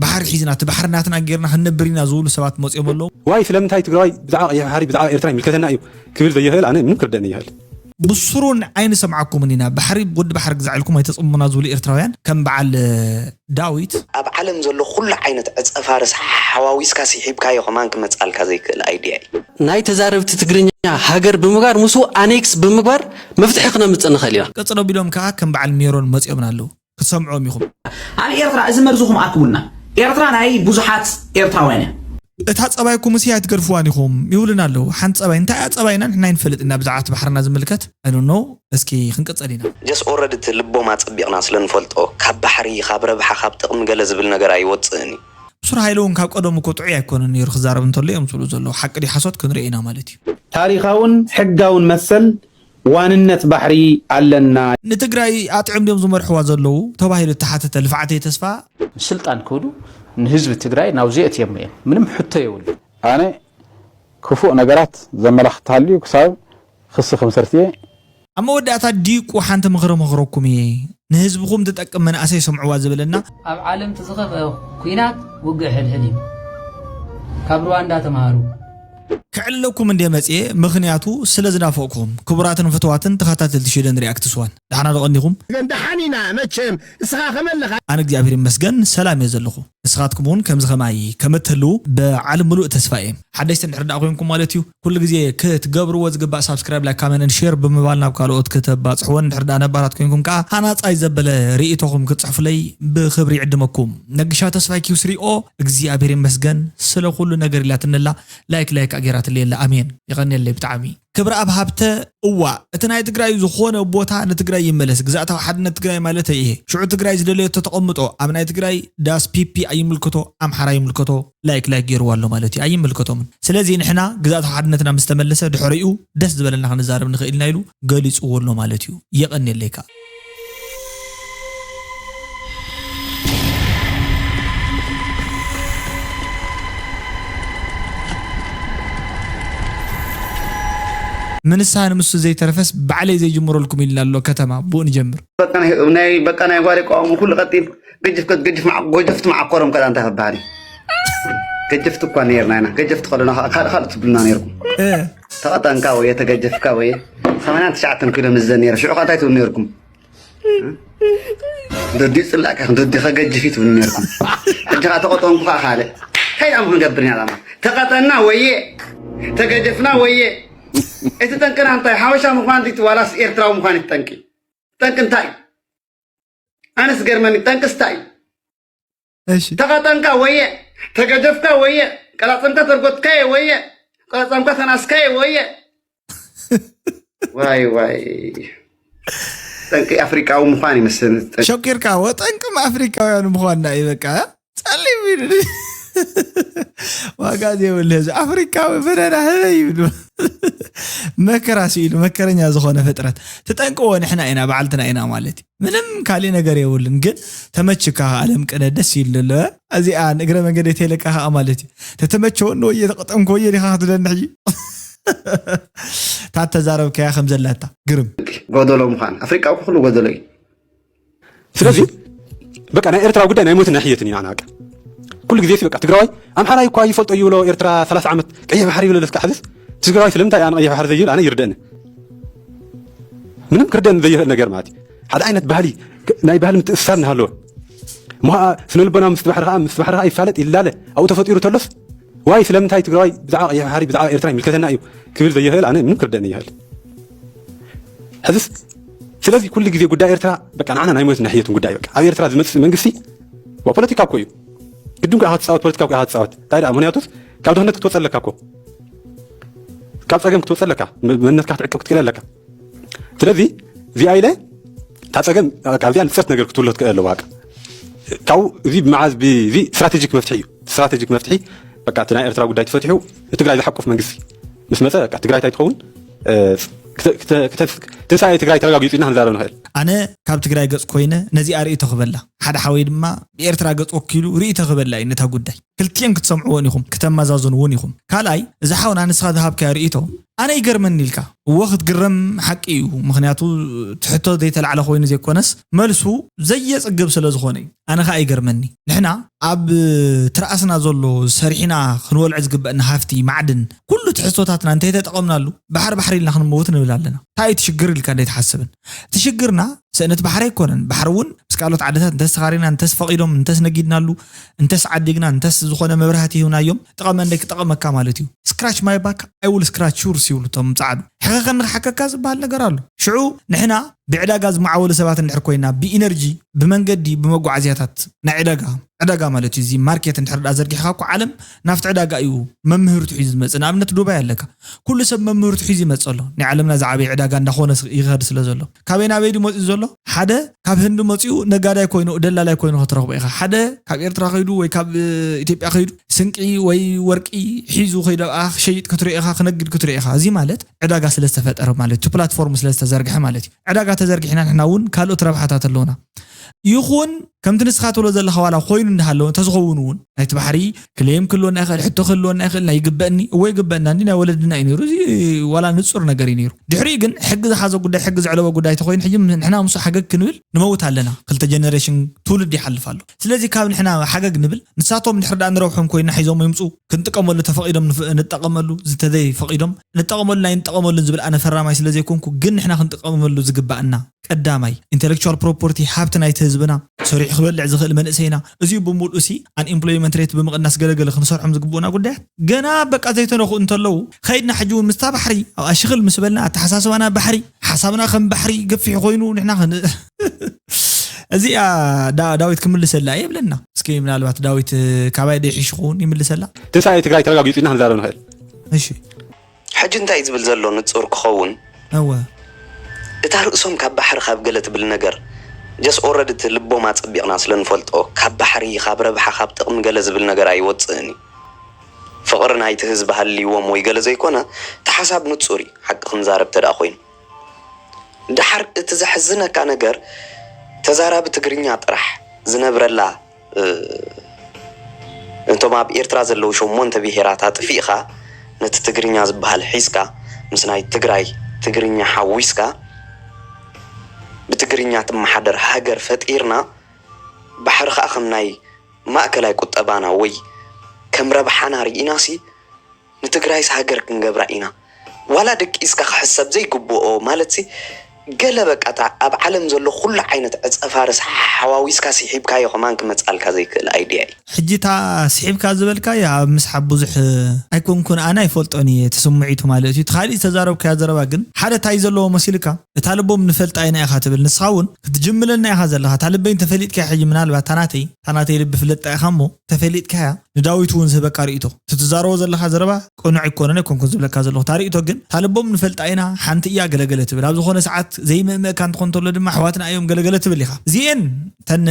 ባሕሪ ሒዝና እቲ ባሕሪ ናትና ጌርና ክንነብር ኢና ዝብሉ ሰባት መጺኦም ኣለዉ። ዋይ ስለምንታይ ትግራዋይ ብዛዕባ ቀይሕ ባሕሪ ብዛዕባ ኤርትራ ይምልከተና እዩ ክብል ዘይኽእል ኣነ ምንም ክርደኣኒ ኣይኽእል። ብሱሩ ኣይንሰምዓኩምን ኢና ባሕሪ ወዲ ባሕሪ ግዛዕ ኢልኩም ኣይተጽምሙና ዝብሉ ኤርትራውያን ከም በዓል ዳዊት። ኣብ ዓለም ዘሎ ኩሉ ዓይነት ዕጸፋርስ ሓሓዋዊስካ ሲሒብካዮ ከማን ክመጽኣልካ ዘይክእል ኣይድያ እዩ። ናይ ተዛረብቲ ትግርኛ ሃገር ብምግባር ምስኡ ኣኔክስ ብምግባር መፍትሒ ክነምጽእ ንኽእል ኢና። ቅጽል ኣቢሎም ከኣ ከም በዓል ሜሮን መጺኦምና ኣለዉ። ክትሰምዕዎም ኢኹም። ኣብ ኤርትራ እዚ መርዝኹም ኣርክቡልና። ኤርትራ ናይ ብዙሓት ኤርትራውያን እያ። እታ ጸባይኩምስ እያ ኣይትገድፍዋን ኢኹም ይብሉና ኣለዉ። ሓንቲ ጸባይ እንታይ እያ ጸባይና ንሕና ኣይንፈልጥን እያ ብዛዕባ እቲ ባሕርና ዝምልከት I don't know እስኪ ክንቅጽል ኢና። ጀስ ኦረዲ እቲ ልቦም ኣጸቢቅና ስለ ንፈልጦ ካብ ባሕሪ ካብ ረብሓ ካብ ጥቅሚ ገለ ዝብል ነገር ኣይወጽእን እዩ። ሱር ሃይለ ውን ካብ ቀደሙ እኮ ጥዑይ ኣይኮነን ኔሩ ክዛረብ እንተሎ እዮም ዝብሉ ዘለዉ ሓቂ ድዩ ሓሶት ክንሪኦ ኢና ማለት እዩ። ታሪኻውን ሕጋውን መሰል ዋንነት ባሕሪ ኣለና። ንትግራይ ኣጥዕም ድዮም ዝመርሕዋ ዘለዉ ተባሂሉ እተሓተተ ልፍዓተይ ተስፋ፣ ንስልጣን ክብሉ ንህዝቢ ትግራይ ናብኡ ዘእትየሞ እዮም ምንም ሕቶ የብሉን። ኣነ ክፉእ ነገራት ዘመላኽት ተሃልዩ ክሳብ ክሲ ክምስርት እየ። ኣብ መወዳእታ ዲቁ ሓንቲ ምኽሪ መኽረኩም እየ ንህዝብኹም ትጠቅም መንእሰይ ስምዕዋ ዝብልና። ኣብ ዓለም እቲ ዝኸፍኣ ኩናት ውግእ ሕድሕድ እዩ። ካብ ሩዋንዳ ተምሃሩ። ክዕለኩም እንድየ መጽየ ምኽንያቱ ስለ ዝናፈቅኩኹም ክቡራትን ፍትዋትን ተኻታተልቲ ሽደን ሪኣክትስ ዋን ዳሕና ዶ ቀኒኹም። ዳሓን ኢና መቸም እስኻ ከመ ኣለኻ። ኣነ እግዚኣብሔር ይመስገን ሰላም እየ ዘለኹ ንስኻትኩም እውን ከምዚ ከማይ ከምትህልዉ ብዓል ምሉእ ተስፋ እየ። ሓደሽቲ እንድሕር ድኣ ኮይንኩም ማለት እዩ ኩሉ ግዜ ክትገብርዎ ዝግባእ ሳብስክራይብ ላይክ ካመንን ሼር ብምባል ናብ ካልኦት ክተባጽሕወን እንድሕር ድኣ ነባራት ኮይንኩም ከኣ ሃናጻይ ዘበለ ሪኢቶኹም ክትጽሕፉለይ ብኽብሪ ይዕድመኩም ነግሻ ተስፋይ ኪውስሪኦ እግዚኣብሔር ይመስገን ስለ ኩሉ ነገር ኢላትኒ ኣላ ላይክ ላይክ ከኣ ጌራትለይ ኣላ ኣሜን የቀንየለይ ብጣዕሚ ክብረኣብ ሃብተ እዋ እቲ ናይ ትግራይ ዝኾነ ቦታ ንትግራይ ይመለስ ግዝኣታዊ ሓድነት ትግራይ ማለተይ እየ ሽዑ ትግራይ ዝደለየቶ ተቐምጦ ኣብ ናይ ትግራይ ዳስ ፒፒ ኣይምልከቶ ኣምሓራ ይምልከቶ ላይክ ላይክ ገይርዋ ኣሎ ማለት እዩ ኣይምልከቶምን ስለዚ ንሕና ግዝኣታዊ ሓድነትና ምስ ተመለሰ ድሕሪኡ ደስ ዝበለና ክንዛረብ ንኽእል ኢና ኢሉ ገሊፅዎ ኣሎ ማለት እዩ የቐንየለይ ከኣ ምንሳ ንምሱ ዘይተረፈስ ባዕለይ ዘይጅምረልኩም ኢልና ኣሎ ከተማ ብኡ ንጀምር ናይ በቃ ናይ ጓሪ ቋሙ ኩሉ ቀጢፍ ገጅፍ ገጅፍ ጎጀፍቲ መዓኮሮም ከዳ እንታይ ክበሃል እዩ ገጀፍቲ እኳ ነርና ኢና ገጀፍቲ ከለና ካልእ ትብሉና ነርኩም ተቀጠንካ ወየ ተገጀፍካ ወየ ሰማንያን ትሽዓተን ኪሎ ምስ ዘኔረ ሽዑ ከ እንታይ ትብሉ ነርኩም ደዲ ጽላእ ከ ደዲ ከገጅፍ ትብሉ ነርኩም ሕጂ ከ ተቀጠንኩ ከ ካልእ እንታይ ዳም ክንገብር ኢና ዳማ ተቀጠና ወየ ተገጀፍና ወየ እቲ ጠንቅና እንታይ ሓበሻ ምዃን ዲቲ ዋላስ ኤርትራዊ ምዃን እቲ ጠንቂ ጠንቂ እንታይ ኣነስ ገርመኒ ጠንቅስ እንታይ እዩ እሺ ተኸጠንካ ወየ ተገደፍካ ወየ ቀላጸምካ ተርጎትካየ ወየ ቀላጸምካ ተናስካየ ወየ ዋይ ዋይ ጠንቂ ኣፍሪቃዊ ምዃን ይመስል ጠንቂ ሸቂርካ ወጠንቅም ኣፍሪካውያን ምኳንና እዩ በቃ ጸሊም ይብል ዋጋ ዘይብሉ ህዝቢ ኣፍሪካዊ በደና ህበ ይብሉ መከራ ስኢሉ መከረኛ ዝኾነ ፍጥረት ትጠንቅዎ ንሕና ኢና ባዕልትና ኢና ማለት እዩ ምንም ካሊእ ነገር የብሉን ግን ተመችካ ከኣ ኣለም ቅነ ደስ ኢሉ ኣሎ እዚኣ ንእግረ መንገደይ ተይለካ ከኣ ማለት እዩ ተተመቸወኒ ወየ ተቀጠምኩ ወየ ዲካ ክትብለኒ ሕጂ እታ ተዛረብካያ ከም ዘላታ ግርም ጎደሎ ምዃን ኣፍሪቃ ኩሉ ጎደሎ እዩ ስለዚ በቃ ናይ ኤርትራ ጉዳይ ናይ ሞትን ናይ ሕየትን እዩ ንዓና በቃ ኩሉ ግዜ በቃ ትግራዋይ ኣምሓራይ እኳ ይፈልጦ ይብሎ ኤርትራ 30 ዓመት ቀይሕ ባሕሪ ይብለለስ ክዓ ሕዝስ ትግራዋይ ስለምንታይ ኣነ ቀይሕ ባሕሪ ዘይብል ኣነ ይርደእኒ ምንም ክርደን ዘይኽእል ነገር ማለት እዩ ሓደ ዓይነት ባህሊ ናይ ባህሊ ምትእስሳር እናሃለወ እሞ ከዓ ስነ ልቦና ምስ ባሕሪ ከዓ ምስ ባሕሪ ከዓ ይፋለጥ ይላለ ኣብኡ ተፈጢሩ ተሎስ ዋይ ስለምንታይ ትግራዋይ ብዛዕባ ቀይሕ ባሕሪ ብዛዕባ ኤርትራ ይምልከተና እዩ ክብል ዘይኽእል ኣነ ምንም ክርደን ይኽእል ሕዝስ ስለዚ ኩሉ ግዜ ጉዳይ ኤርትራ በቃ ንዓና ናይ ሞትን ናይ ሕየትን ጉዳይ በቃ ኣብ ኤርትራ ዝመፅእ መንግስቲ ፖለቲካ እኮ እዩ ግድን ኩ ኢኻ ትፃወት ፖለቲካ ኩ ኢኻ ትፃወት እንታይ ደኣ ምክንያቱስ ካብ ድኽነት ክትወፅ ኣለካ እኮ ካብ ፀገም ክትወፅ ኣለካ መንነትካ ክትዕቅብ ክትክእል ኣለካ ስለዚ እዚኣ ኢለ እታ ፀገም ካብዚኣ ንፅርት ነገር ክትብሎ ትክእል ኣለዋ ካብኡ እዚ ብመዓዝ እዚ ስትራቴጂክ መፍትሒ እዩ ስትራቴጂክ መፍትሒ በቃ እቲ ናይ ኤርትራ ጉዳይ ተፈትሑ ንትግራይ ዝሓቁፍ መንግስቲ ምስ መፀ በቃ ትግራይ እንታይ ትኸውን ትንሳኤ ትግራይ ተረጋጊፁ ኢና ክንዛረብ ንኽእል ኣነ ካብ ትግራይ ገፅ ኮይነ ነዚኣ ርእቶ ክበላ ሓደ ሓወይ ድማ ብኤርትራ ገፅ ወኪሉ ርእቶ ክበላ እዩ ነታ ጉዳይ ክልቲኤን ክትሰምዕወን ኢኹም ክተመዛዝንውን ኢኹም ካልኣይ እዚ ሓውና ንስኻ ዝሃብካዮ ርእይቶ ኣነ ይገርመኒ ኢልካ እወ ክትግረም ሓቂ እዩ ምኽንያቱ ትሕቶ ዘይተላዕለ ኮይኑ ዘይኮነስ መልሱ ዘየጽግብ ስለ ዝኾነ እዩ ኣነ ከኣ ይገርመኒ ንሕና ኣብ ትርኣስና ዘሎ ሰሪሕና ክንወልዕ ዝግበእና ሃፍቲ ማዕድን ኩሉ ትሕዝቶታትና እንተይተጠቐምናሉ ባሕሪ ባሕሪ ኢልና ክንመውት ንብል ኣለና እንታይ እዩ ትሽግር ኢልካ እንዴት ሓስብን ትሽግርና ስእነት ባሕሪ ኣይኮነን። ባሕሪ እውን ምስ ካልኦት ዓድታት እንተስ ተኻሪና፣ እንተስ ፈቒዶም፣ እንተስ ነጊድናሉ፣ እንተስ ዓዲግና፣ እንተስ ዝኾነ መብራህቲ ሂብናዮም ጥቐመንደይ ክጠቐመካ ማለት እዩ። Scratch my back I will scratch yours ይብሉ እቶም ጸዓዱ። ሕኸኸኒ ክሓከካ ዝበሃል ነገር ኣሎ። ሽዑ ንሕና ብዕዳጋ ዝመዓወሉ ሰባት እንድሕር ኮይና፣ ብኢነርጂ፣ ብመንገዲ፣ ብመጓዓዝያታት ናይ ዕዳጋ፣ ዕዳጋ ማለት እዩ እዚ ማርኬት እንድሕር ድኣ ዘርጊሕካ እኮ ዓለም ናብቲ ዕዳጋ እዩ መምህርቱ ሒዙ ዝመጽእ ንኣብነት ዱባይ ኣለካ ኩሉ ሰብ መምህርቱ ሒዙ ይመጽእ ኣሎ ናይ ዓለምና ዝዓበየ ዕዳጋ እንዳኾነ ይኸድ ስለ ዘሎ ካበይ ናበይ ድዩ መጺኡ ዘሎ ሓደ ካብ ህንዲ መጺኡ ነጋዳይ ኮይኑ ደላላይ ኮይኑ ክትረኽቦ ኢኻ ሓደ ካብ ኤርትራ ከይዱ ወይ ካብ ኢትዮጵያ ከይዱ ስንቂ ወይ ወርቂ ሒዙ ከይዱ ኣብኣ ክሸይጥ ክትሪኦ ኢኻ ክነግድ ክትሪኦ ኢኻ እዚ ማለት ዕዳጋ ስለ ዝተፈጠረ ማለት እዩ እቲ ፕላትፎርም ስለ ዝተዘርግሐ ማለት እዩ ዕዳጋ ተዘርጊሕና ንሕና እውን ካልኦት ረብሓታት ኣለውና ይኹን ከምቲ ንስኻ ትብሎ ዘለኻ ዋላ ኮይኑ እንዳሃለወ እንተዝኸውን እውን ናይቲ ባሕሪ ክሌም ክህልወና ይኽእል ሕቶ ክህልወና ይኽእል ናይ ይግበእኒ እወ ይግበእና እንዲ ናይ ወለድና እዩ ነይሩ እዚ ዋላ ንፁር ነገር እዩ ነይሩ ድሕሪኡ ግን ሕጊ ዝሓዞ ጉዳይ ሕጊ ዘዕለቦ ጉዳይ ተኮይኑ ሕጂ ንሕና ምስ ሓገግ ክንብል ንመውት ኣለና ክልተ ጀነሬሽን ትውልድ ይሓልፍ ኣሎ ስለዚ ካብ ንሕና ሓገግ ንብል ንሳቶም ድሕሪ ዳኣ ንረብሖም ኮይና ሒዞሞ ይምፁ ክንጥቀመሉ ተፈቂዶም ንጠቐመሉ ዝተዘይ ፈቂዶም ንጠቐመሉን ኣይንጠቐመሉን ዝብል ኣነ ፈራማይ ስለዘይኮንኩ ግን ንሕና ክንጥቀመሉ ዝግበእና ቀዳማይ፣ ኢንተለክቹዋል ፕሮፖርቲ፣ ሃብቲ ናይቲ ህዝብና፣ ሰሪሑ ክበልዕ ዝኽእል መንእሰይና፣ እዚኡ ብምልኡሲ ኣንኢምፕሎይመንት ሬት ብምቕናስ ገለ ገለ ክንሰርሖም ዝግብኡና ጉዳያት ገና በቃ ዘይተነኽኡ እንተለዉ፣ ከይድና ሕጂ እውን ምስታ ባሕሪ ኣብኣ ሽኽል ምስ በልና፣ ኣተሓሳስባና ባሕሪ፣ ሓሳብና ከም ባሕሪ ገፊሕ ኮይኑ ንሕና ክን። እዚኣ ዳ ዳዊት ክምልሰላ እየ ብለና እስኪ ምናልባት ዳዊት ካባይ ዶ ይሕሽ ክኸውን ይምልሰላ። ትንሳኤ ትግራይ ተረጋጊፁ ኢልና ክንዛረብ ንኽእል። እሺ። ሕጂ እንታይ ዝብል ዘሎ ንጹር ክከውን። እወ እታ ርእሶም ካብ ባሕሪ ካብ ገለ ትብል ነገር just already እቲ ልቦም ኣጸቢቅና ስለ ንፈልጦ ካብ ባሕሪ ካብ ረብሓ ካብ ጥቅሚ ገለ ዝብል ነገር ኣይወጽእን እዩ ፍቅሪ ናይቲ ህዝቢ ሃልይዎም ወይ ገለ ዘይኮነ እቲ ሓሳብ ንጹር እዩ ሓቂ ክንዛረብ ተድኣ ኮይኑ ድሓር እቲ ዘሕዝነካ ነገር ተዛራቢ ትግርኛ ጥራሕ ዝነብረላ ነቶም ኣብ ኤርትራ ዘለዉ ሸሞንተ ብሄራት ኣጥፊእኻ ነቲ ትግርኛ ዝበሃል ሒዝካ ምስ ናይ ትግራይ ትግርኛ ሓዊስካ ብትግርኛ ትመሓደር ሃገር ፈጢርና ባሕሪ ከኣ ከም ናይ ማእከላይ ቁጠባና ወይ ከም ረብሓና ርኢናሲ ንትግራይስ ሃገር ክንገብራ ኢና ዋላ ደቂስካ ክሕሰብ ዘይግብኦ ማለትሲ ገለ በቃ እታ ኣብ ዓለም ዘሎ ኩሉ ዓይነት ዕጸፋርስ ሓዋዊስካ ሲሒብካዮ ከማን ክመጻልካ ዘይክእል ኣይድያ እዩ። ሕጂ እታ ሲሒብካ ዝበልካያ ኣብ ምስሓብ ብዙሕ ኣይኮንኩን ኣነ ኣይፈልጦን እየ እቲ ስሙዒቱ ማለት እዩ እቲ ካሊእ ዝተዛረብካዮ ዘረባ ግን ሓደ ታይ ዘለዎ መሲልካ እታ ልቦም ንፈልጣ ኢና ኢኻ ትብል ንስኻ ውን ክትጅምለና ኢኻ ዘለኻ እታ ልበይ እንተፈሊጥካያ ሕጂ ምናልባት እታ ናተይ እታ ናተይ ልቢ ፍለጣ ኢኻ እሞ እንተፈሊጥካያ ንዳዊት እውን ዝህበካ ርእይቶ። እቲ ትዛረቦ ዘለኻ ዘረባ ቅኑዕ ኣይኮነን ኣይኮንኩን ዝብለካ ዘለኹ። እታ ርእይቶ ግን እታ ልቦም ንፈልጣ ኢና፣ ሓንቲ እያ ገለ ገለ ትብል። ኣብ ዝኾነ ሰዓት ዘይምእምእካ እንትኾን እንተሎ ድማ ኣሕዋትና እዮም ገለ ገለ ትብል ኢኻ። እዚኤን እተን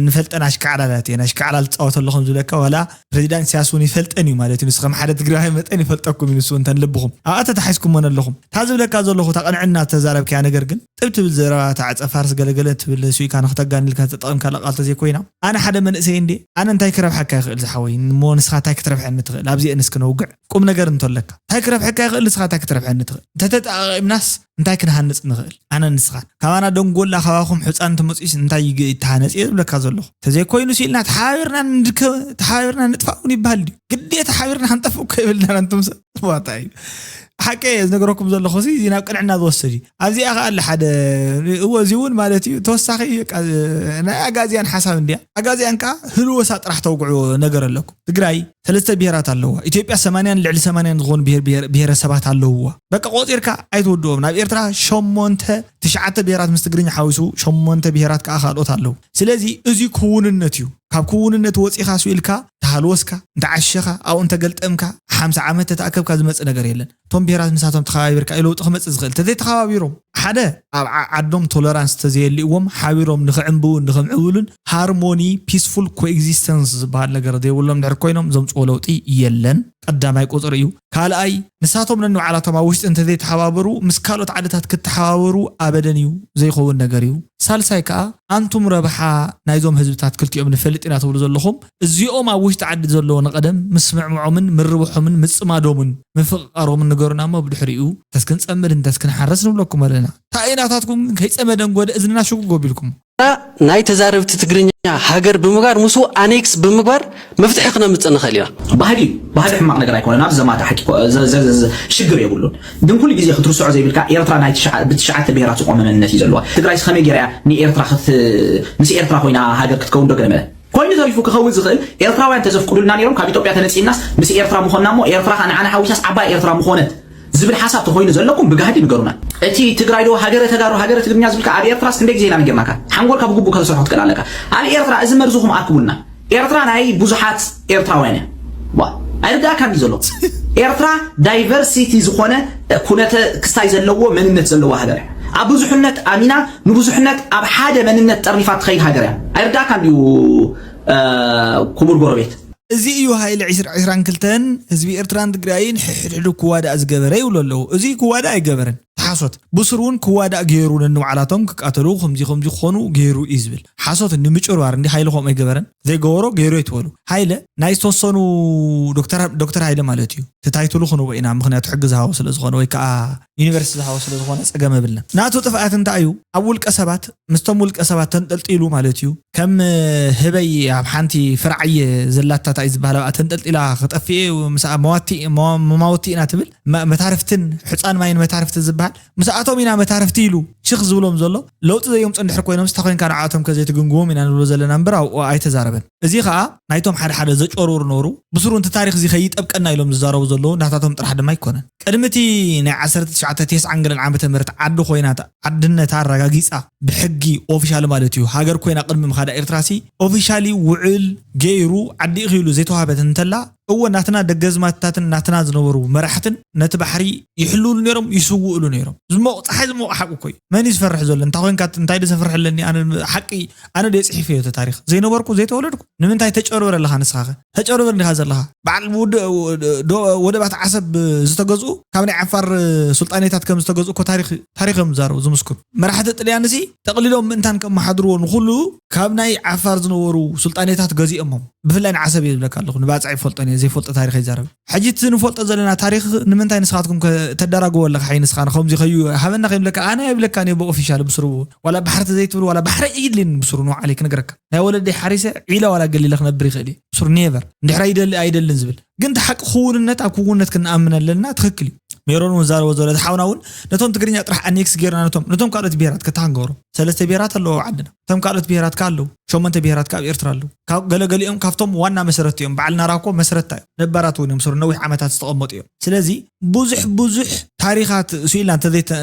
ንፈልጠን ኣሽካዕላላት እየን። ኣሽካዕላል ትጻወት ኣሎ ከም ዝብለካ ዋላ ፕረዚዳንት ኢሳያስ እውን ይፈልጠን እዩ ማለት እዩ። ንሱ ከም ሓደ ትግራዋይ መጠን ይፈልጠኩም እዩ ንሱ እውን ተንልብኹም ኣብኣ ተታሒዝኩሞ ነለኹም። እታ ዝብለካ ዘለኹ እታ ቅንዕና ዝተዛረብካያ ነገር ግን። ጥብ ትብል ዘረባ እታ ዕጸ ፋርስ ገለገለ ትብል ሱይካ ንክተጋኒ ኢልካ ዝተጠቐምካላ ቃል ተዘይኮይና። ኣነ ሓደ መንእሰይ እንድየ ኣነ እንታይ ክረብሓካ ይኽእል ዝሓወይ እሞ ንስኻ እንታይ ክትረብሐኒ ትኽእል ኣብዚኤን እስኪ ነውግዕ ቁምነገር እንቶ ኣለካ እንታይ ክረብሐካ ይኽእል ንስኻ እንታይ ክትረብሐኒ ትኽእል እንተተጠቓቒምናስ እንታይ ክንሃንጽ ንኽእል ኣነን ንስኻን ካባና ደንጎላ ካባኹም ሕጻን እንተመጺኡስ እንታይ ይግ ይተሃነጽ እየ ዝብለካ ዘለኹ ተዘይኮይኑስ ኢልና ተሓባቢርና ንድከ ተሓባቢርና ንጥፋእ እውን ይበሃል ድዩ ግዴታ ሓቢርና ክንጠፍእ እኮ የብልናን ኣንቱም ሰብ ዋታ እዩ ሓቂ እየ ዝነገረኩም ዘለኹ እዚ ናብ ቅንዕና ዝወስድ እዩ ኣብዚኣ ከኣ ኣለ ሓደ እወ እዚ እውን ማለት እዩ ተወሳኺ ናይ ኣጋዚያን ሓሳብ እንድያ ኣጋዚያን ከኣ ህልወሳ ጥራሕ ተውግዑ ነገር ኣለኩ ትግራይ ሰለስተ ብሄራት ኣለዋ ኢትዮጵያ ሰማንያን ልዕሊ ሰማንያን ዝኾኑ ብሄረሰባት ኣለውዋ በቃ ቆፂርካ ኣይትወድኦም ናብ ኤርትራ ሸሞንተ ትሽዓተ ብሄራት ምስ ትግርኛ ሓዊሱ ሸሞንተ ብሄራት ከኣ ካልኦት ኣለዉ ስለዚ እዚ ክውንነት እዩ ካብ ክውንነት ወፂኻ ስኢልካ ተሃልወስካ እንተዓሸኻ ኣብኡ እንተገልጠምካ ሓምሳ ዓመት ተተኣከብካ ዝመፅእ ነገር የለን እቶም ብሄራት ምሳቶም ተኸባቢርካ እዩ ለውጢ ክመፅእ ዝኽእል። እንተዘይተኸባቢሮም ሓደ ኣብ ዓዓዶም ቶለራንስ እንተዘየሊእዎም ሓቢሮም ንኽዕምብቡን ንኽምዕብሉን ሃርሞኒ፣ ፒስፉል ኮኤግዚስተንስ፣ ዝበሃል ነገር ዘይብሎም እንድሕር ኮይኖም ዘምፅዎ ለውጢ የለን። ቀዳማይ ቁፅሪ እዩ። ካልኣይ ንሳቶም ነንባዕላቶም ኣብ ውሽጢ እንተዘይተሓባበሩ ምስ ካልኦት ዓድታት ክተሓባበሩ ኣበደን እዩ። ዘይኸውን ነገር እዩ። ሳልሳይ ከዓ ኣንቱም ረብሓ ናይዞም ህዝብታት ክልቲኦም ንፈልጥ ኢና ትብሉ ዘለኹም እዚኦም ኣብ ውሽጢ ዓዲ ዘለዎ ንቐደም ምስምዕምዖምን ምርብሖምን ምጽማዶምን ምፍቕቓሮምን ንገሩና እሞ ብድሕሪኡ እንተስ ክንጸምድ እንተስ ክንሓርስ ንብለኩም ኣለና። ታይ ናታትኩም ግን ከይጸመደ እንጎደ እዝንና ሽጉግ ኣቢልኩም። ናይ ተዛረብቲ ትግርኛ ሃገር ብምግባር ምስኡ ኣኔክስ ብምግባር መፍትሒ ክነምጽእ ንኽእል ኢና። ባህሊ እዩ ባህሊ ሕማቅ ነገር ኣይኮነን ኣብዚ ዘማተ ሓቂ ሽግር የብሉን ግን ኩሉ ግዜ ክትርስዖ ዘይብልካ ኤርትራ ናይ ብትሽዓተ ብሄራት ዝቆመ መንነት እዩ ዘለዋ ትግራይስ ከመይ ገይራ እያ ንኤርትራ ምስ ኤርትራ ኮይና ሃገር ክትከውን ዶ ገለ መለ ኮይኑ ተሪፉ ክኸውን ዝኽእል ኤርትራውያን ተዘፍቅዱልና ኔሮም ካብ ኢትዮጵያ ተነጺልናስ ምስ ኤርትራ ምኾንና እሞ ኤርትራ ከኣ ንዓና ሓዊሳስ ዓባይ ኤርትራ ምኾነት ዝብል ሓሳብ ተኾይኑ ዘለኩም ብጋህዲ ንገሩና። እቲ ትግራይ ዶ ሃገረ ተጋሩ ሃገረ ትግርኛ ዝብልካ ኣብ ኤርትራስ ክንደይ ግዜ ኢና ነጊርናካ ሓንጎልካ ብግቡእ ከተሰርሖ ክትክእል ኣለካ ኣብ ኤርትራ እዚ መርዝኹም ኣርክቡልና ኤርትራ ናይ ብዙሓት ኤርትራውያን እያ ዋ ኣይርዳእካን እዩ ዘሎ ኤርትራ ዳይቨርሲቲ ዝኾነ ኩነተ ክስታይ ዘለዎ መንነት ዘለዎ ሃገር እያ ኣብ ብዙሕነት ኣሚና ንብዙሕነት ኣብ ሓደ መንነት ጠርኒፋ እትኸይድ ሃገር እያ። ኣይርድኣካን ድዩ ኩቡር ጎረቤት። እዚ እዩ ሃይለ ዕስራ ዕስራን ክልተን ህዝቢ ኤርትራን ትግራይን ሕሕድሕዱ ክዋዳእ ዝገበረ ይብሉ ኣለዉ እዚ ክዋዳእ ኣይገበረን ሓሶት ብሱር ውን ክዋዳእ ገይሩ ነንባዕላቶም ክቃተሉ ከምዚ ከምዚ ክኾኑ ገይሩ እዩ ዝብል ሓሶት ንምጭርባር እንዲ ሃይለ ከምኡ ኣይገበረን ዘይገበሮ ገይሩ ኣይትበሉ ሃይለ ናይ ዝተወሰኑ ዶክተር ሃይለ ማለት እዩ እቲ ታይትሉ ክንቦ ኢና ምክንያቱ ሕጊ ዝሃቦ ስለ ዝኾነ ወይ ከዓ ዩኒቨርስቲ ዝሃቦ ስለ ዝኾነ ጸገም የብልናን። ናቱ ጥፍኣት እንታይ እዩ? ኣብ ውልቀ ሰባት ምስቶም ውልቀ ሰባት ተንጠልጢሉ ማለት እዩ። ከም ህበይ ኣብ ሓንቲ ፍረ ዓየ ዘላታ ታይ እዩ ዝበሃል ኣብኣ ተንጠልጢላ ክጠፍእ እዩ ምስኣ መዋቲ መማውቲ ኢና ትብል መታርፍትን ሑጻን ማይን መታርፍቲ ዝበሃል ምስኣቶም ኢና መታርፍቲ ኢሉ ሽኽ ዝብሎም ዘሎ ለውጢ ዘየምጹ እንድሕር ኮይኖምስ ተኮይንካ ንዓኣቶም ከ ዘይትግምግሞም ኢና ንብሎ ዘለና እምበር ኣብኡ ኣይተዛረበን። እዚ ከኣ ናይቶም ሓደ ሓደ ዘጮርውሩ ነበሩ፣ ብስሩ ነቲ ታሪኽ እዚ ከይጠብቀና ኢሎም ዝዛረቡ ዘለዉ ናታቶም ጥራሕ ድማ ኣይኮነን። ቅድሚ እቲ ናይ ዓሰርተ ትሽዓተ ቴስዓን ገለን ዓመተ ምህረት ዓዲ ኮይና ዓድነታ ኣረጋጊጻ ብሕጊ ኦፊሻሊ ማለት እዩ ሃገር ኮይና ቅድሚ ምኻዳ ኤርትራሲ ኦፊሻሊ ውዕል ገይሩ ዓዲ'ኺ ኢሉ ዘይተዋህበት እንተላ እወ ናትና ደገዝማትታትን ናትና ዝነበሩ መራሕትን ነቲ ባሕሪ ይሕልውሉ ነይሮም ይስውእሉ ነይሮም ዝሞቕ ጸሓይ ዝሞቕ ሓቁ እኮ እዩ መን እዩ ዝፈርሕ ዘሎ እንታይ ኮንካ እንታይ ዶ ዘፍርሕ ኣለኒ ኣነ ሓቂ ኣነ ዶ ጽሒፈዮ እቲ ታሪኽ ዘይነበርኩ ዘይተወለድኩ ንምንታይ ተጨርብር ኣለኻ ንስኻኸ ተጨርብር እንዲኻ ዘለኻ በዓል ዶ ወደባት ዓሰብ ዝተገዝኡ ካብ ናይ ዓፋር ሱልጣኔታት ከም ዝተገዝኡ እኮ ታሪኽ ታሪኽ እዮም ዝዛረቡ ዝምስክሩ መራሕቲ ጥልያንሲ ጠቕሊሎም ምእንታን ከመሓድርዎ ንኹሉ ካብ ናይ ዓፋር ዝነበሩ ሱልጣኔታት ገዚኦሞም ብፍላይ ንዓሰብ እየ ዝብለካ ኣለኹ ንባጽዕ ይፈልጦን እየ ዘይፈልጦ ታሪኽ ኣይዛረብን ሕጂ እቲ ንፈልጦ ዘለና ታሪኽ ንምንታይ ንስኻትኩም ከ ተዳራግዎ ኣለኻ ሓይ ንስኻ ንኸምዚ ከዩ ሃበና ከይብለካ ኣነ ኣይብለካን እየ ብኦፊሻል ብስሩ ዋላ ባሕርቲ ዘይትብል ዋላ ባሕሪ ኣይድልን ብስሩ ን ዓለይ ክነግረካ ናይ ወለደይ ሓሪሰ ዒላ ዋላ ገሊለ ክነብር ይኽእል እየ ብስሩ ኔቨር እንድሕር ኣይደሊ ኣይደልን ዝብል ግን እቲ ሓቂ ክውንነት ኣብ ክውንነት ክንኣምን ኣለና ትክክል እዩ ሜሮን እውን ዛረቦ ዘሎ እቲ ሓውና እውን ነቶም ትግርኛ ጥራሕ ኣኔክስ ጌርና ነቶም ነቶም ካልኦት ብሄራት ከታ ክንገብሮም ሰለስተ ብሄራት ኣለዎ ኣብ ዓድና እቶም ካልኦት ብሄራት ከ ኣለዉ ሸሞንተ ብሄራት ከ ኣብ ኤርትራ ኣለዉ ካብ ገለገሊኦም ካብቶም ዋና መሰረት እዮም በዓል ናራኮ መስረታ እዮም ነባራት እውን እዮም ስሩ ነዊሕ ዓመታት ዝተቐመጡ እዮም ስለዚ ብዙሕ ብዙሕ ታሪኻት ስኢልና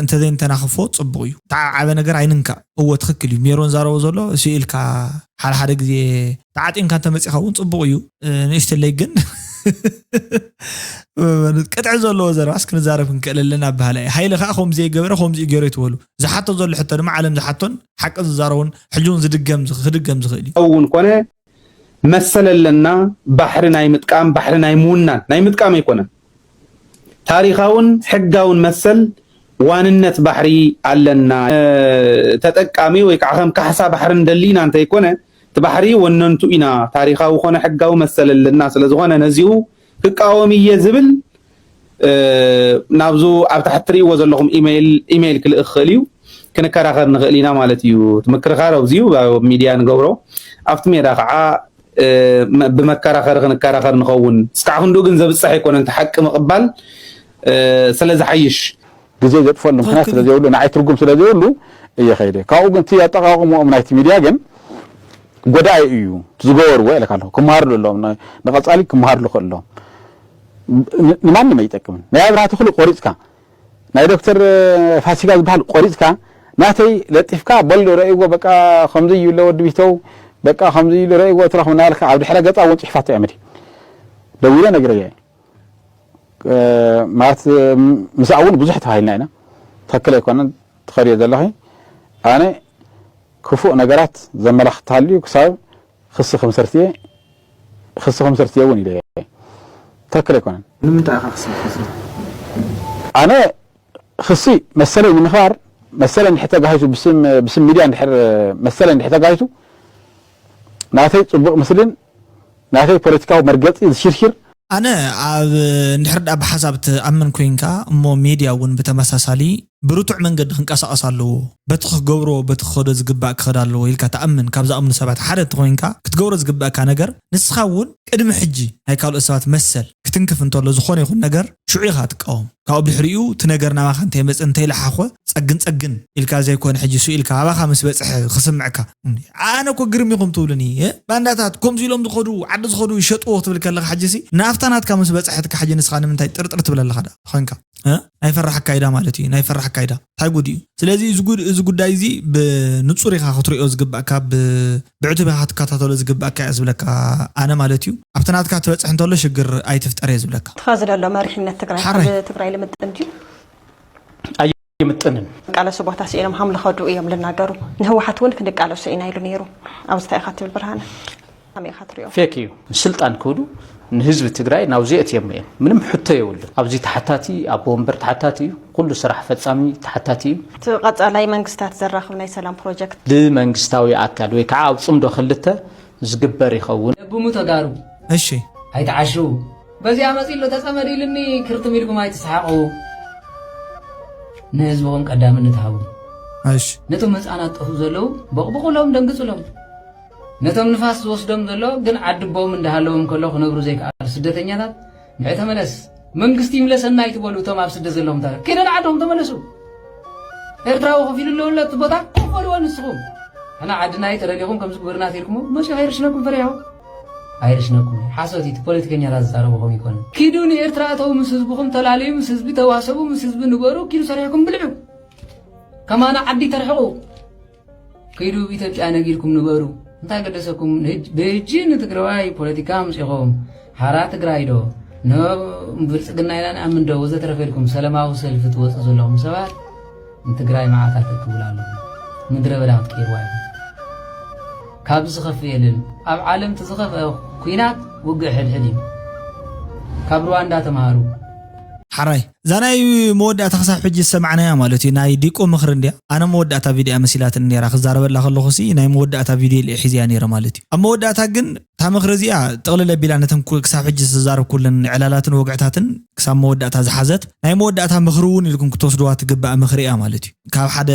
እንተዘይንተናኽፎ ጽቡቕ እዩ። ተዓብዓበ ነገር ኣይንንካእ። እወ ትኽክል እዩ ሜሮን ዛረቦ ዘሎ ስኢልካ ሓደ ሓደ ግዜ ተዓጢንካ እንተመጺኻ እውን ጽቡቕ እዩ ንእሽተለይ ግን ቅጥዒ ዘለዎ ዘረባስ ክንዛረብ ክንክእል ኣለና በሃላይ እየ ሃይለ ከዓ ከምኡ ዘይገበረ ከምዚኡ ገይሩ ይትበሉ ዝሓቶ ዘሎ ሕቶ ድማ ዓለም ዝሓቶን ሓቂ ዝዛረቡን ሕጂ እውን ዝድገም ክድገም ዝኽእል እዩ እውን ኮነ መሰል ኣለና ባሕሪ ናይ ምጥቃም ባሕሪ ናይ ምውናን ናይ ምጥቃም ኣይኮነን ታሪኻውን ሕጋውን መሰል ዋንነት ባሕሪ ኣለና ተጠቃሚ ወይ ከዓ ከም ካሕሳ ባሕሪ እንደሊ ኢና እንተይኮነ እቲ ባሕሪ ወነንቱ ኢና ታሪኻዊ ኮነ ሕጋዊ መሰል ኣለና ስለዝኾነ ነዚኡ ክቃወም እየ ዝብል ናብዙ ኣብ ታሕቲ ትርእይዎ ዘለኹም ኢሜይል ክልእኽ ክኽእል እዩ ክንከራኸር ንኽእል ኢና ማለት እዩ እቲ ምክርኻር ኣብዚዩ ኣብ ሚድያ ንገብሮ ኣብቲ ሜዳ ከዓ ብመከራኸሪ ክንከራኸር ንኸውን እስካዕ ክንድኡ ግን ዘብፀሕ ኣይኮነን እቲ ሓቂ ምቕባል ስለዝሓይሽ ግዜ ዘጥፈሉ ምክንያት ትክክል ስለ እዩ። ዘይብሉ ንዓይ ትርጉም ስለ ዘይብሉ እየ ከይደ ካብኡ ግን እቲ ኣጠቃቅምኦም ናይቲ ሚድያ ግን ጎዳኢ እዩ እቲ ዝገበርዎ ኢለካ ኣለኩ ክመሃርሉ ኣለዎም ን- ንቀጻሊ ክመሃርሉ ክእል ኣለዎም ን- ንማንም ኣይጠቅምን ናይ ኣብርሃ ተክሉ ቆሪጽካ ናይ ዶክተር ፋሲካ ዝበሃል ቆሪጽካ ናተይ ለጢፍካ በሉ ረእይዎ በቃ ከምዚ እዩ ለወዲ ቢተው በቃ ከምዚ ኢሉ ረእይዎ ትረክቡ እናበልካ ኣብ ድሕረ ገጻ እውን ጽሑፋት ኣዕምዲ ደዊለ ነጊረያ እየ ማለት ምስኣ እውን ብዙሕ ተባሂልና ኢና ትክክል ኣይኮነን ትኸድዮ ዘለኺ ኣነ ክፉእ ነገራት ዘመላኽት ተሃልዩ ክሳብ ክሲ ክምስርት እየ ክሲ ክምስርት እየ እውን ኢለ እየ ትክክል ኣይኮነን ንምንታይ ኢኻ ክሲ ክትምስርት ኣነ ክሲ መሰለይ ንምኽባር መሰለይ እንድሕር ተጋሂቱ ብስም ሚድያ እንድሕር መሰለይ እንድሕር ተጋሂቱ ናተይ ፅቡቕ ምስሊን ናተይ ፖለቲካዊ መርገጺ ዝሽርሽር። ኣነ ኣብ እንድሕር ድኣ ብሓሳብ ትኣምን ኮይንካ እሞ ሜድያ ውን ብተመሳሳሊ ብርቱዕ መንገዲ ክንቀሳቀስ ኣለዎ በቲ ክገብሮ በቲ ክኸዶ ዝግባእ ክኸድ ኣለዎ ኢልካ ትኣምን ካብ ዝኣምኑ ሰባት ሓደ እንተኾይንካ ክትገብሮ ዝግበእካ ነገር ንስኻ ውን ቅድሚ ሕጂ ናይ ካልኦት ሰባት መሰል ክትንክፍ እንተሎ ዝኾነ ይኹን ነገር ሽዑ ኢኻ ትቃወም ካብኡ ብድሕሪኡ እቲ ነገር ናባኻ እንተይመጸ እንተይለሓኾ ጸግን ጸግን ኢልካ ዘይኮነ ሕጂ ሱእ ኢልካ ኣባኻ ምስ በጽሐ ክስምዕካ ኣነ እኮ ግርም ኢኹም ትብሉኒ ባንዳታት ከምዚ ኢሎም ዝኸዱ ዓዲ ዝኸዱ ይሸጥዎ ክትብል ከለኻ ሕጂሲ ናፍታ ናትካ ምስ በጽሐትካ ሕጂ ንስኻ ንምንታይ ጥርጥር ትብል ኣለኻ ደኣ ኮንካ ናይ ፈራሕ ኣካይዳ ማለት እዩ ናይ ፈራሕ ኣካይዳ እንታይ ጉድ እዩ ስለዚ እዚ ጉዳይ እዚ ብንጹር ኢኻ ክትሪኦ ዝግባእካ ብዕቱብ ኢኻ ክትከታተሎ ዝግባእካ እያ ዝብለካ ኣነ ማለት እዩ ኣብቲ ናትካ ትበጽሕ እንተሎ ሽግር ኣይትፍጠር እየ ዝብለካ ትኻ ዝደሎ መሪሕነት ትግራይ ትግራይ ልምጥን ድዩ ኣይምጥንን። ዝቃለሱ ቦታ ስኢኖም ሃም ልኸዱ እዮም ልናገሩ ንህወሓት እውን ክንቃለሱ ኢና ኢሉ ነይሩ ኣብዚ እንታይ ኢኻ ትብል ብርሃነ ከመይ ኢኻ ትሪኦ ፌክ እዩ ንስልጣን ክብሉ ንህዝቢ ትግራይ ናብዚ የትዮም እዮም ምንም ሕቶ የብሉን ኣብዚ ተሓታቲ ኣብ ወንበር ተሓታቲ እዩ ኩሉ ስራሕ ፈፃሚ ተሓታቲ እዩ እቲ ቀፃላይ መንግስታት ዘራኽብ ናይ ሰላም ፕሮጀክት ብመንግስታዊ ኣካል ወይ ከዓ ኣብ ፅምዶ ክልተ ዝግበር ይኸውን ለብሙ ተጋሩ እሺ ኣይትዓሽው በዚኣ መጺኡ ኣሎ ተጸመድ ኢሉኒ ክርትም ኢልኩም ኣይትስሓቁ ንህዝብኹም ቀዳምነት ሃቡ እሺ ነቶም ህፃናት ጠፉ ዘለዉ በቕብቑሎም ደንግጽሎም ነቶም ንፋስ ዝወስዶም ዘሎ ግን ዓድቦም እንዳሃለዎም ከሎ ክነብሩ ዘይከኣሉ ስደተኛታት ንዕ ተመለስ መንግስቲ ይምለሰና ይትበሉ እቶም ኣብ ስደት ዘለዎም ታሪክ ኪደ ንዓዶም ተመለሱ ኤርትራዊ ከፊሉ ኣለውለ እቲ ቦታ ኮፍ በልዎ ንስኹም ሕና ዓድና ተደሊኹም ከምዚ ግበርና ተልኩሞ መፅኡ ከይርሽነኩም ፈሪሖም ኣይርሽነኩም እዩ ሓሶት እዩ እቲ ፖለቲከኛታት ዝዛረቡ ከምኡ ኣይኮነን ኪዱ ንኤርትራ እተው ምስ ህዝብኹም ተላለዩ ምስ ህዝቢ ተዋሰቡ ምስ ህዝቢ ንበሩ ኪዱ ሰሪሕኩም ብልዑ ከማና ዓዲ ተርሕቑ ኪዱ ኢትዮጵያ ነጊርኩም ንበሩ እንታይ ገደሰኩም ብህጂ ንትግራዋይ ፖለቲካ ምፂኹም ሓራ ትግራይ ዶ ንብልፅግና ኢና ንኣምን ዶ ወዘተረፈ ኢልኩም ሰለማዊ ሰልፊ ትወፁ ዘለኹም ሰባት ንትግራይ መዓት ኣተክብላ ኣለኹ ምድረ በዳ ክትቀይርዋ ኢኹም ካብዚ ዝኸፍእ የለን ኣብ ዓለም እቲ ዝኸፍአ ኩናት ውግእ ሕድሕድ እዩ ካብ ሩዋንዳ ተምሃሩ ሓራይ እዛ ናይ መወዳእታ ክሳብ ሕጂ ዝሰማዕናያ ማለት እዩ ናይ ዲቆ ምኽሪ እንድያ ኣነ መወዳእታ ቪድያ መሲላትኒ ነይራ ክዛረበላ ከለኹ ሲ ናይ መወዳእታ ቪድዮ ኢለ ሒዘያ ነይረ ማለት እዩ ኣብ መወዳእታ ግን እታ ምኽሪ እዚኣ ጥቕልል ኣቢላ ነተን ክሳብ ሕጂ ዝተዛረብኩለን ዕላላትን ወግዕታትን ክሳብ መወዳእታ ዝሓዘት ናይ መወዳእታ ምኽሪ እውን ኢልኩም ክትወስድዋ ትግባእ ምኽሪ እያ ማለት እዩ። ካብ ሓደ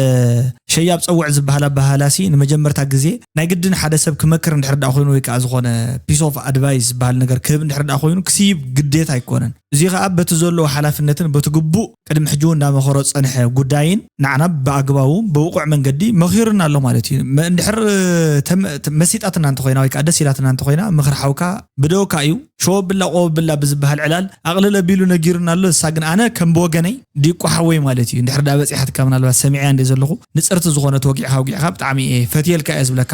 ሸያብ ጸውዕ ዝበሃል ኣበሃህላሲ ንመጀመርታ ግዜ ናይ ግድን ሓደ ሰብ ክመክር እንድሕር ድኣ ኮይኑ ወይ ከኣ ዝኾነ piece of advice ዝበሃል ነገር ክህብ እንድሕር ድኣ ኮይኑ ክስይብ ግዴታ ኣይኮነን። እዙይ ከኣ በቲ ዘለዎ ሓላፍነትን በቲ ግቡእ ቅድሚ ሕጂ'ውን እንዳመኸሮ ዝጸንሐ ጉዳይን ንዓና ብኣግባቡ ብብቑዕ መንገዲ መኺሩና ኣሎ ማለት እዩ። እንድሕር መሲጣትና እንተኾይና ወይ ከኣ ደስ ኢላትና እንተኾይና ምኽሪ ሓውካ ብደወካ እዩ። ሸወብላ ቆበብላ ብዝበሃል ዕላል ኣቕልል ኣቢሉ ነጊሩና ኣሎ። ንሳ ግን ኣነ ከም ብወገነይ ዲቁ ሓወይ ማለት እዩ እንድሕር ድኣ በጺሓትካ ምናልባት ሰሚዐያ እንድየ ዘለኹ ንጽርቲ ዝኾነት ወጊዕካ ኣውጊዕካ ብጣዕሚ እየ ፈትየልካ እየ ዝብለካ።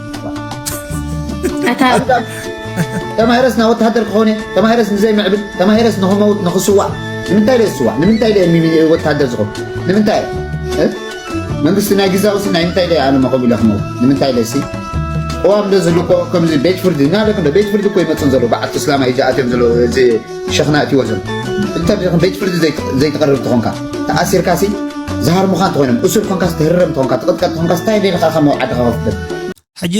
ተማሂረስ ናብ ወተሃደር ክኾነ ተማሂረስ ንዘይምዕብል ተማሂረስ ንክመውት ንክስዋዕ ንምንታይ ደ ዝስዋዕ ንምንታይ ደ ወተሃደር ዝኾን ንምንታይ መንግስቲ ናይ ግዛዊ ሲ ናይ ምንታይ ደ ኣነ መቆም ኢለ ክመውት ንምንታይ ደሲ እዋም ዶ ዝልኮ ከምዚ ቤት ፍርዲ ናለ ቤት ፍርዲ እኮ ይመፅን ዘሎ በዓልቲ እስላማ እዩ ዝኣትዮም ዘሎ ሸኽና ኣእትይዎ ዘሎ እንተ ከም ቤት ፍርዲ ዘይትቐርብ እንተኾንካ ተኣሲርካሲ ዝሃርሙኻ እንተኾይኖም እሱር ኮንካስ ትህረም እንተኾንካ ትቕጥቀጥ እንተኾንካስ እንታይ ደልኻ ካብ መውዓድኻ ከፍትበት ሕጂ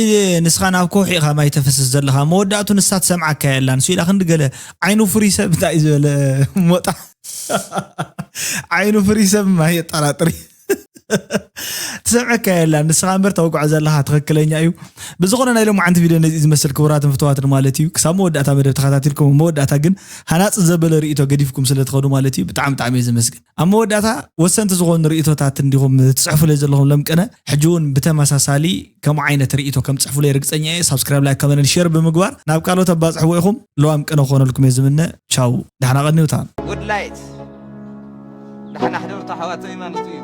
ንስኻ ናብ ከውሒ ኢኻ ማይ ተፈስስ ዘለኻ መወዳእቱ ንሳ ትሰምዓካ የላን ስኢላ ክንዲ ገለ ዓይኑ ፍሪ ሰብ እንታይ ዝበለ ሞጣ ዓይኑ ፍሪ ሰብ ማይ የጠራጥር ትሰምዐካ የላ ንስኻ እምበር ተወግዖ ዘለኻ ትኽክለኛ እዩ ብዝኾነ ናይ ሎሚ ዓንቲ ቪድዮ ነዚ ዝመስል ክቡራትን ፍትዋትን ማለት እዩ ክሳብ መወዳእታ መደብ ተኸታቲልኩም መወዳእታ ግን ሃናፅ ዘበለ ርእቶ ገዲፍኩም ስለ ትኸዱ ማለት እዩ ብጣዕሚ ብጣዕሚ እዩ ዝመስግን ኣብ መወዳእታ ወሰንቲ ዝኾኑ ርእቶታት እንዲኹም ትፅሕፉለይ ዘለኹም ለምቅነ ሕጂ እውን ብተመሳሳሊ ከምኡ ዓይነት ርኢቶ ከም ጽሕፉለይ ርግጸኛ እየ ሳብስክራይብ ላይክ ከመንን ሼር ብምግባር ናብ ካልኦት ኣባጽሕዎ ኢኹም ለዋም ቅነ ክኾነልኩም እየ ዝምነ ቻው ዳሕና ቀኒውታ ጉድ ላይት ዳሕና ሕደርቶ ኣሕዋተይ ማለቱ እዩ